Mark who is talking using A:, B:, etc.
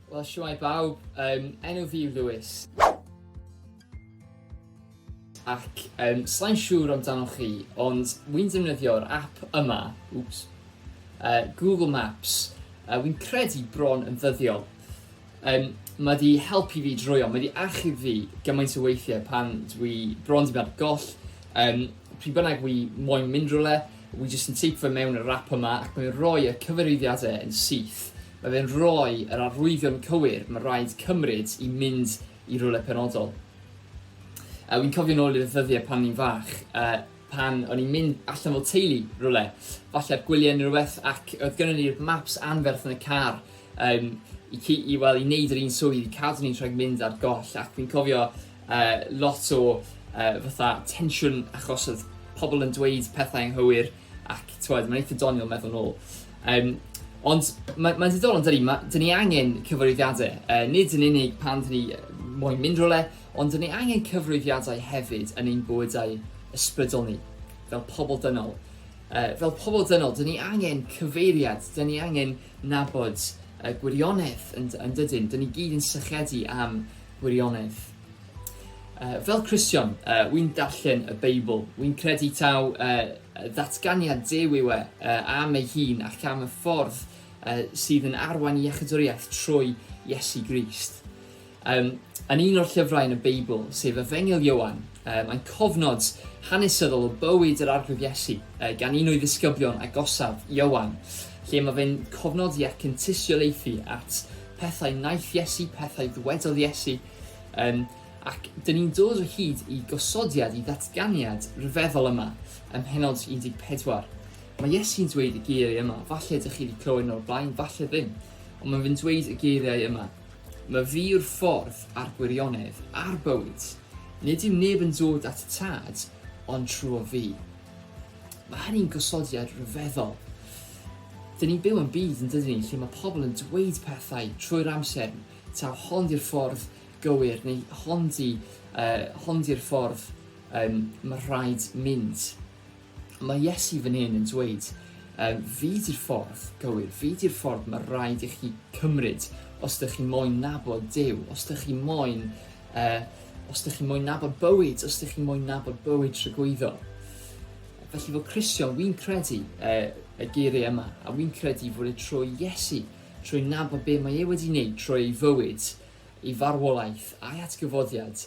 A: Wel, siwai bawb, um, enw fi yw Lewis. Ac um, slai'n siŵr amdanoch chi, ond wy'n defnyddio'r app yma, oops, uh, Google Maps, uh, wy'n credu bron yn ddyddiol. Yym, mae 'di helpu fi droeon, mae 'di achub fi gymaint o weithiau pan dwi bron 'di mynd goll, um, pryd bynnag wi moyn mynd rhywle, wi jyst yn teipio fe mewn y rap yma ac mae'n rhoi y cyfarwyddiadau yn syth. Mae fe'n rhoi yr arwyddion cywir mae rhaid cymryd i mynd i rhywle penodol. Uh, wi'n cofio nôl i'r ddyddiau pan ni'n fach, uh, pan o'n i'n mynd allan fel teulu rywle, falle gwyliau neu rhywbeth, ac oedd gynnon ni'r maps anferth yn y car, um, i, i, well, i wneud yr un swydd, i cadw ni'n rhaid mynd ar goll, ac fi'n cofio uh, lot o uh, fatha tensiwn achos oedd pobl yn dweud pethau anghywir, ac tywed, mae'n eitha doniol meddwl nôl. Um, ond mae'n ma diddorol, dydy, ma, dyn ni angen cyfarwyddiadau, uh, nid yn unig pan dyn ni moyn mynd rhywle, Ond dyn ni angen cyfrifiadau hefyd yn ein bywydau ysbrydol ni, fel pobl dynol. Uh, fel pobl dynol, dyn ni angen cyfeiriad, dyn ni angen nabod uh, gwirionedd yn, yn dydyn. Dyn ni gyd yn sychedu am gwirionedd. Uh, fel Cristion, uh, wy'n darllen y Beibl. Wy'n credu taw uh, ddatganiad dew yw e uh, am ei hun ac am y ffordd uh, sydd yn arwain iechydwriaeth trwy Iesu Grist. Um, yn un o'r llyfrau yn y Beibl, sef Efengyl Iowan, um, mae'n cofnod hanesyddol o bywyd yr arglwydd Iesu uh, gan un o'i ddisgyblion agosaf, Iowan, lle mae fe'n cofnodi ac yn tystiolaethu at pethau naeth Iesu, pethau ddwedodd Iesu, um, ac dyn ni'n dod o hyd i gosodiad, i ddatganiad rhyfeddol yma, ym mhenod 14. Mae Iesu'n dweud y geiriau yma, falle ydych chi wedi clywed nhw'r blaen, falle ddim, ond mae'n fy'n dweud y geiriau yma, Mae fi yw'r ffordd a'r gwirionedd a'r bywyd. Nid yw neb yn dod at y tad ond trwy fi. Mae hynny'n gosodiad rhyfeddol. Dyn ni'n byw yn byd yn dydyn ni lle mae pobl yn dweud pethau trwy'r amser, taw hon di'r ffordd gywir neu hon di, uh, hon di'r ffordd um, mae rhaid mynd. Mae Iesu fan hyn yn dweud, um, fi di'r ffordd gywir, fi di'r ffordd mae rhaid i chi cymryd os ydych chi moyn nabod Dyw, os ydych chi moyn, uh, os ydych chi moyn nabod bywyd, os ydych chi moyn nabod bywyd trygwyddo. Felly fel Cristion, wy'n credu uh, y geiriau yma, a wy'n credu fod e trwy Iesu, trwy nabod be mae e wedi wneud, trwy ei fywyd, ei farwolaeth a'i atgyfodiad,